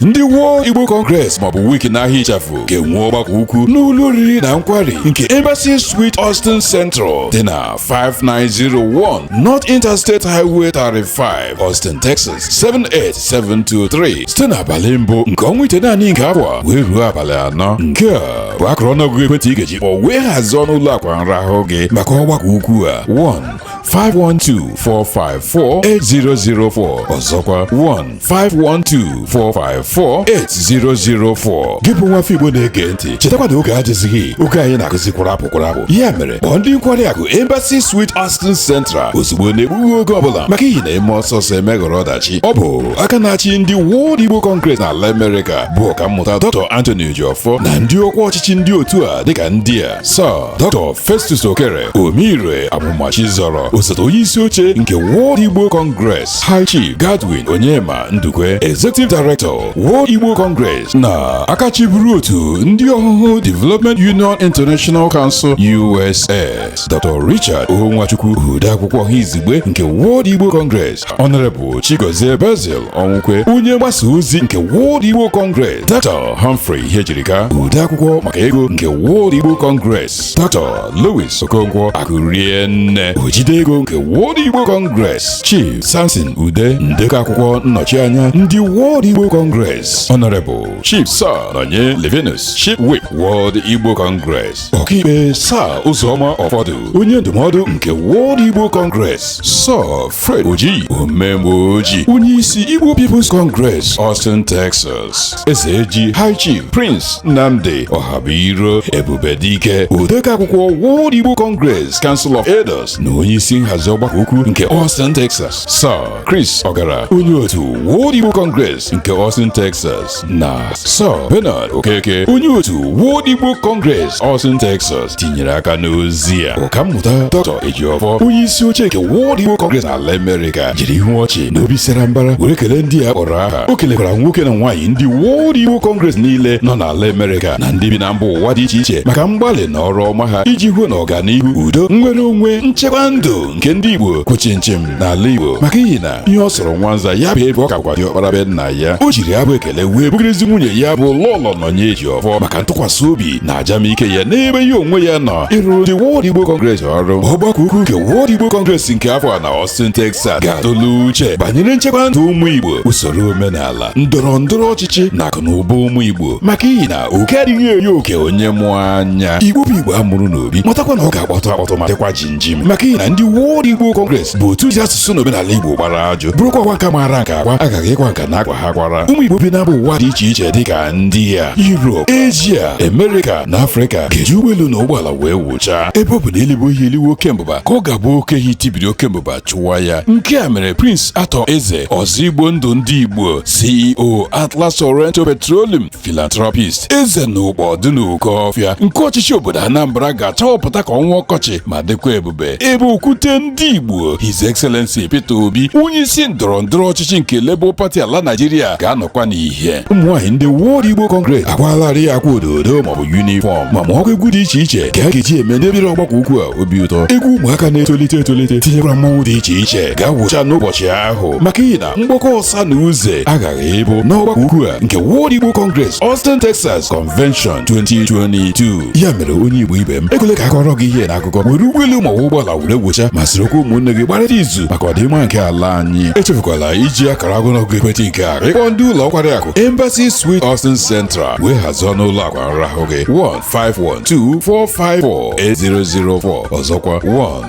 ndị World Igbo Congress maọbụ WIC n'aha ịchafụ ga-enwe ọgbakọ ukwu n'ụlọ oriri na nkwari nke Embassy Suite Austin Central dị na 5901 North Interstate Highway 35 Austin Texas 78723 site n'abalị mbụ nke ọnwa itenaanị nke afọ a wee ruo abalị anọ nke a bụ akụrụ ọnụọgụgụ ekwentị ị ga-eji kpọọ wee hazie ọnụ ụlọ akwa nrahụ gị maka ọgbakọ ukwu a 1 512 454 8004 ọzọkwa 1 512-454-8004 gị bụ nwafọ igbo na-ege ntị chetakwa na oge adịzighị oge anyị na-akụzi kwụrụ apụ kwụrụ apụ ya mere kpọọ ndị nkwari akụ Embassy Suite Austin Central ozugbo na-egbughị oge ọbụla maka ihi na emee ọsọ ọsọ emeghara ọdachi ọ bụ aka na-achị ndị World Igbo Congress n'ala Amerịka bụ ọkammụta Dr. Anthony Ejiofor na ndị ọkwa ọchịchị ndị otu a dịka ndị a Sir Dr. Festus Okere Omeire Amụmachi zọrọ osote onye isi oche nke World Igbo Congress High Chief Godwin Onyema Ndukwe Executive Director World Igbo Congress na aka chịburu otu ndị Ọhụhụ Development Union International Council USS Dr. Richard O. Nwachukwu odeakwụkwọ ọha izugbe nke World Igbo Congress Honorable Chigozie Basil Ọnwụkwe onye mgbasa ozi nke World Igbo Congress Dr. Humphrey Ihejirika odeakwụkwọ maka ego nke World Igbo Congress Dr. Louis Okonkwo Akụrienne ojide ego nke World Igbo Congress Chief Samson Ude ndekọ akwụkwọ nnọchianya ndị World Igbo Congress Honorable Chief Sir Nonye Levinus Chief Whip World Igbo Congress ọkaikpe Sir Ụzọma Ọfọdụ onye ndụmọdụ nke World Igbo Congress Sir Fred Oji omemgbe oji onye isi Igbo People's Congress Austin Texas ezeji high chief prince nnamdi ọhabuiro ebube dike odekọ akwụkwọ world igbo congress council of elders na onye isi nhazi ọgbakọ ukwu nke austin texas sir chris ọgara onye otu world igbo congress nke austin texas na sir bernard okeke onye otu world igbo congress austin texas tinyere aka n'ozi a ọkammụta Dr. Ejiofor onye isi oche nke World Igbo Congress n'ala Amerịka jiri ihu ọchị na obi sara mbara were kelee ndị a kpọrọ aha o kelekwara nwoke na nwaanyị ndị World Igbo Congress niile nọ n'ala Amerịka na ndị bi na mba ụwa dị iche iche maka mgbalị na ọrụ ọma ha iji hụ na ọganihu udo nnwere onwe nchekwa ndụ nke ndị Igbo kwụ chịm chịm n'ala Igbo maka ihi na ihe ọ sọrọ nwanza ya bụ ebe ọ ka bụkwa diọkpara be nna ya o jiri abụ ekele wee bụgịrịzi nwunye ya bụ Lọlọ Nonye Ejiofor maka ntụkwasị obi na ajamike ya n'ebe ya onwe ya nọ ịrụrụ ndị World Igbo Congress ọrụ ọgbakọ ukwu nke World Igbo Congress nke afọ a na Austin Texas ga-atụle uche banyere nchekwa ndụ ụmụ Igbo usoro omenala ndọrọ ndọrọ ọchịchị na akụ na ụba ụmụ Igbo maka ihi na oke adịghị eri oke onye mụ anya Igbo bụ Igbo a mụrụ n'obi matakwa na ọ ga-akpọtụ akpọtụ ma dịkwa ji njinjimi maka ihi na ndị World Igbo Congress bụ otu ji asụsụ na omenala Igbo gbara ajụ bụrụkwa ọkwa nka maara nke akwa agaghị ịkwa nka na akwa ha kwara ụmụ Igbo bi na mba ụwa dị iche iche dịka ndị ya Europe Asia America na Afrịka ga-eji ụgbọelu na ụgbọala wee wụchaa ebe ọ bụ na e libe ehi eliwe oke mbụba ka ọ ga-abụ oke ehi tibiri oke mbụba chụwa ya nke a mere Prince Arthur Eze ọzọ Igbo ndụ ndị Igbo CEO Atlas Oranto Petroleum philanthropist eze na Ukpo Dunukofia nke ọchịchị obodo anambra ga-achawapụta ka ọnwa ọkọchị ma dịkwa ebube ebe okwute ndị igbo his excellency peter obi onye isi ndọrọ ndọrọ ọchịchị nke labour party ala naijiria ga-anọkwa n'ihe ụmụnwaanyị ndị World Igbo Congress akwaalarị akwa ododo maọbụ uniform ma mụọkwa egwu dị iche iche ka a ga-eji eme ndị bịara ọgbakọ ukwu a obi ụtọ egwu ụmụaka na-etolite etolite tinyekwara mmanwụ dị iche iche ga-awụcha n'ụbọchị ahụ maka ihi na mgbakọ ọsa na uze aghaghị ịbụ n'ọgbakọ ukwu a nke World Igbo Congress Austin Texas Convention 2022 ya mere onye Igbo ibe m ekwele ka a kọọrọ gị ihe n'akụkọ were ụgbọelu ma ọ bụ ụgbọala wee wụchaa ma sorokwa ụmụnne gị gbarịta izu maka ọdịmma nke ala anyị echefukwala iji akara agụnọgụ ekwentị nke a akpọ ndị ụlọ nkwari akụ Embassy Suite Austin Central wee hazie ọnụ ụlọ akwa nrahụ gị 15124548004 ọzọkwa 1